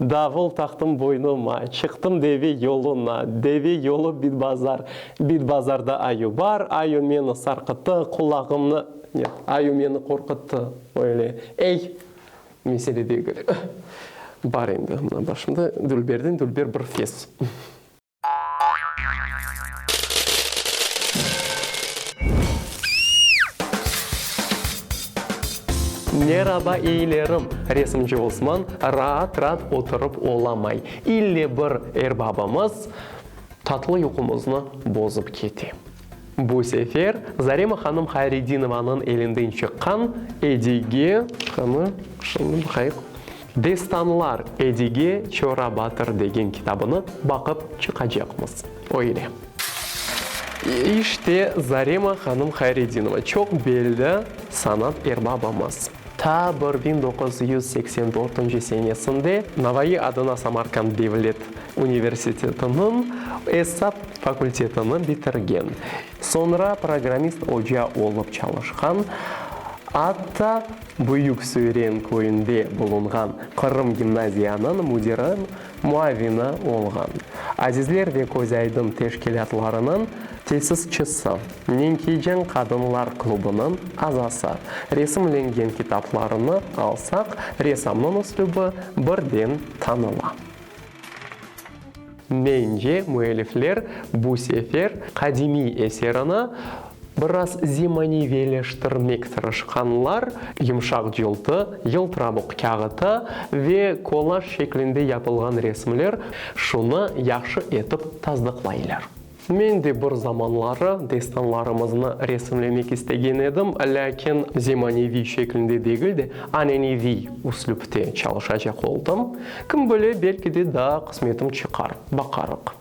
Davul taqtım boynuma, çıqtım deve yoluna, Deve yolu bit-bazar, bit-bazarda ayu bar, Ayu meni sarqıttı, qulağımnı, net, ayu meni qorquttı, öyle, ey, mesele degil, bar endi, mına başımda, dülberden dülber bir fes. Meraba eyilerim, resimci Osman raat-raat oturıp olamay, ille bir erbabımız tatlı yuqumıznı bozıp kete. Bu sefer Zarema hanım Hayredinovanıñ elinden çıqqan Edige, qanı, şunı baqayıq. Destanlar, Edige, Çora batır degen kitabını baqıp çıqacaqmız. Öyle. İşte Zarema hanım Hayredinova, çoq belli sanat erbabımız. Ta bir biñ doquz yüz seksen dörtünci senesinde Navai adına Samarkand devlet universitetiniñ esap fakultetini bitirgen, soñra programmist oca olıp çalışqan, atta Büyük Söyren köyünde bulunğan Qırım gimnaziyanıñ müdiri muavini olğan, Azizler ve Közaydın teşkilâtlarınıñ tesisçisi, Nenkiyceñ qadınlar klubınıñ azası, resimlengen kitaplarını alsaq, ressamnıñ üslübi birden tanıla. Mence, müellifler bu sefer qadimiy eserini Biraz zemaneviyleştirmek tırışqanlar, yumşaq cıltı, yıltırabuq kâğıtı ve kolaj şeklinde yapılğan resimler şunı yahşı etip tasdıqlaylar. Men de bir zamanları destanlarımıznı resimlemek istegen edim, lâkin zemaneviy şeklinde degil de, aneneviy üslüpte çalışacaq oldım. Kim bile, belki de daa qısmetim çıqar, baqarıq.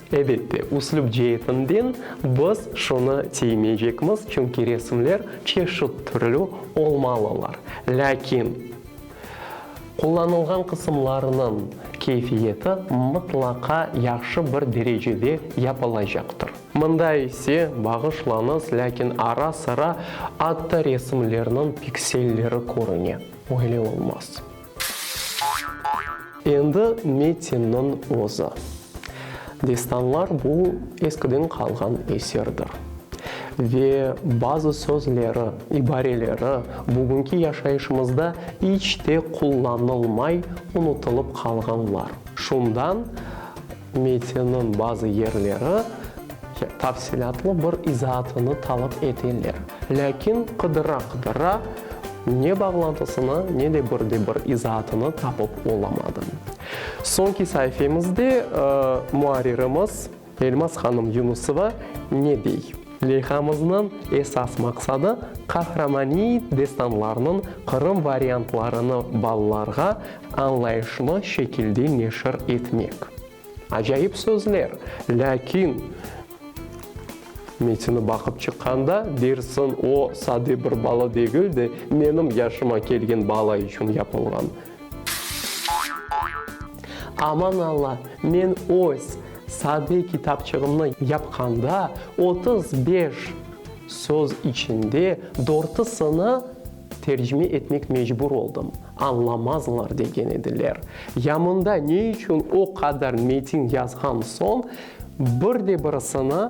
Ebette, üslüp ceetinden biz şunı tiymeycekmiz, çünki resimler çeşit türlü olmalılar. Lâkin qullanılğan qısımlarınıñ keyfiyeti mıtlaqa yahşı bir derecede yapılacaqtır. Mında ise, bağışlañız, lâkin ara-sıra atta resimlerniñ pikselleri körüne. Öyle olmaz. Endi metinniñ özü. Destanlar bu, eskiden qalğan eserdir. Ve bazı sözleri, ibareleri bugünki yaşayışımızda iç te qullanılmay, unutılıp qalğanlar. Şundan, Metniñ bazı yerleri tafsilâtlı bir izaatını talap eteler. Lâkin qıdıra-qıdıra ne bağlantısını, ne de bir de bir izaatını tapıp olamadım. Soñki saifemizde muarririmiz Elmas hanım Yunusova ne dey? Leyhamıznıñ esas maqsadı, Qahramaniy destanlarnıñ Qırım variantlarını balalarğa añlayışlı şekilde neşir etmek. Acayip sözler, lâkin metni baqıp çıqqanda dersiñ, o, sade bir bala degil de, menim yaşıma kelgen bala içün yapılğan. Aman Alla, men öz sade kitapçığımnı yapqanda, otuz beş söz içinde dörtisini tercime etmek mecbur oldım, añlamazlar degen ediler. Ya mında ne içün o qadar metin yazğan soñ, bir de birisini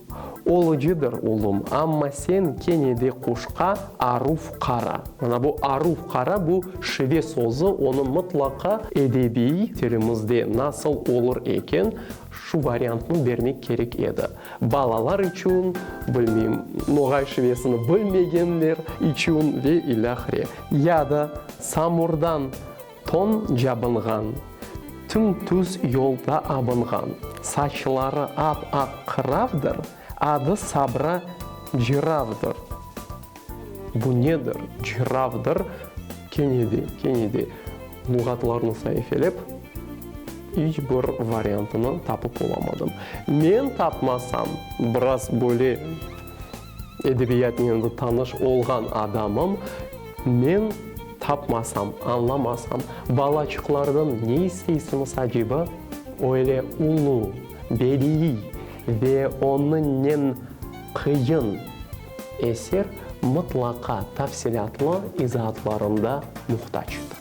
Olucıdır, ulum, amma sen kene de quşqa aruf qara. Mana bu aruf qara, bu şive sözü, onı mıtlaqa edebiy tilimizde nasıl olur eken, şu variantnı bermek kerek edi. Balalar içün, bilmeyim, Noğay şivesini bilmegenler içün ve ilâhre. Ya da samurdan. Ton cabınğan, tüm-tüz yolda abınğan, saçları ap-aq qıravdır, adı Sabra Cıravdır. Bu nedir? Cıravdır, kene de, kene de luğatlarnı saifelep, iç bir variantını tapıp olamadım. Men tapmasam, biraz böyle Edebiyatnen tanış olğan adamım men tapmasam, añlamasam, balaçıqlardan ne isteysiniz aceba? Öyle ulu, bediiy ve onıñnen qıyın eser mıtlaqa tafsilâtlı izaatlarında muhtacdır.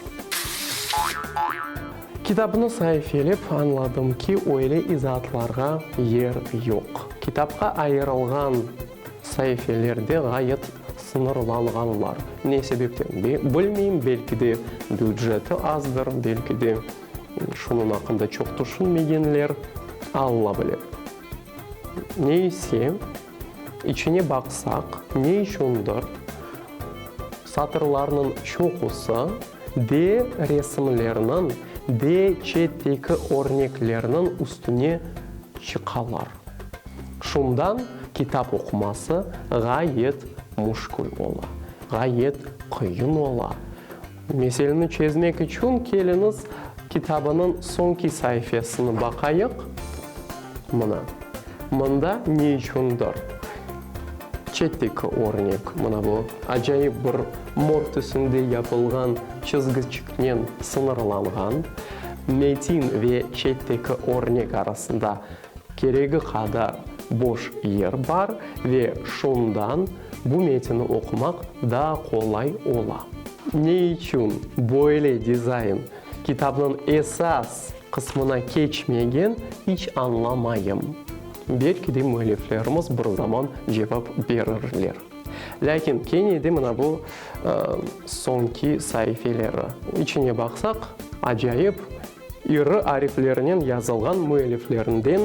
Kitabnı saifiyelep añladım ki, öyle izaatlarğa yer yoq. Kitapqa ayırılğan saifeler de ğayet sıñırlanğanlar. Ne sebepten, bilmeyim, belki de büceti azdır, belki de şunıñ aqqında çoq tüşünmegenler, Alla bile. Ne ise. İçine baqsaq, ne içündir satırlarnıñ çoqusı de resimlerniñ, de çetteki örneklerniñ üstüne çıqalar. Şundan kitap oquması ğayet müşkül ola, ğayet qıyın ola. Meseleni çezmek içün keliñiz kitabınıñ soñki saifesini baqayıq. Mına, mında ne içündir çetteki örnek, mına bu acayip bir mor tüsünde yapılğan çizgiçiknen sıñırlanğan metin ve çetteki örnek arasında Keregi qadar boş yer bar ve şundan bu metni oqumaq daa qolay ola. Ne içün böyle dizayn kitabnıñ esas qısmına keçmegen, iç añlamayım. Belki de müelliflerimiz bir zaman cevap berirler. Lâkin kene de mına bu soñki saifeleri içine baqsaq, acayip İri ariflernen yazılğan müelliflerinden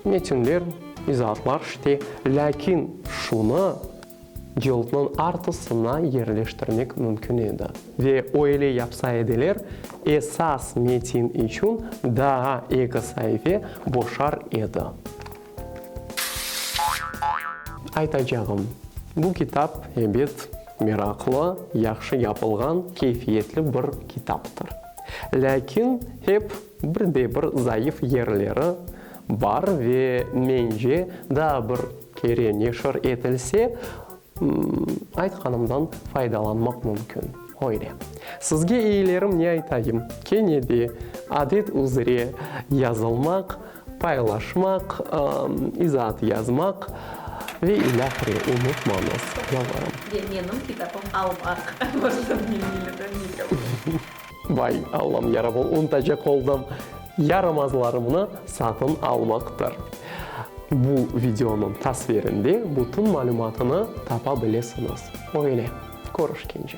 metinler, izaatlar işte, lâkin şunı cildniñ artısına yerleştirmek mümkün edi. Ve öyle yapsa ediler, esas metin içün daa eki saife boşar edi. Aytacağım, bu kitap, ebet, meraqlı, yahşı yapılğan, keyfiyetli bir kitaptır. Lâkin hep bir de bir zayıf yerleri bar ve mence, daa bir kere neşir etilse, Aytqanımdan faydalanmaq mümkün. Öyle. Sizge eyilerim ne aytayım, kene de adet üzre yazılmaq, paylaşmaq, izaat yazmaq ve ilâhre unutmañız, yalvarım. Ve menim kitapım almaq. Borcum, men milletimiz. Vay, Allam yarabım, unutacaq oldım! Yaramazlarımnı satın almaqtır. Bu videonıñ tasvirinde bütün malümatını tapa bilesiñiz. Öyle, körüşkence.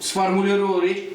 Sformuliruv.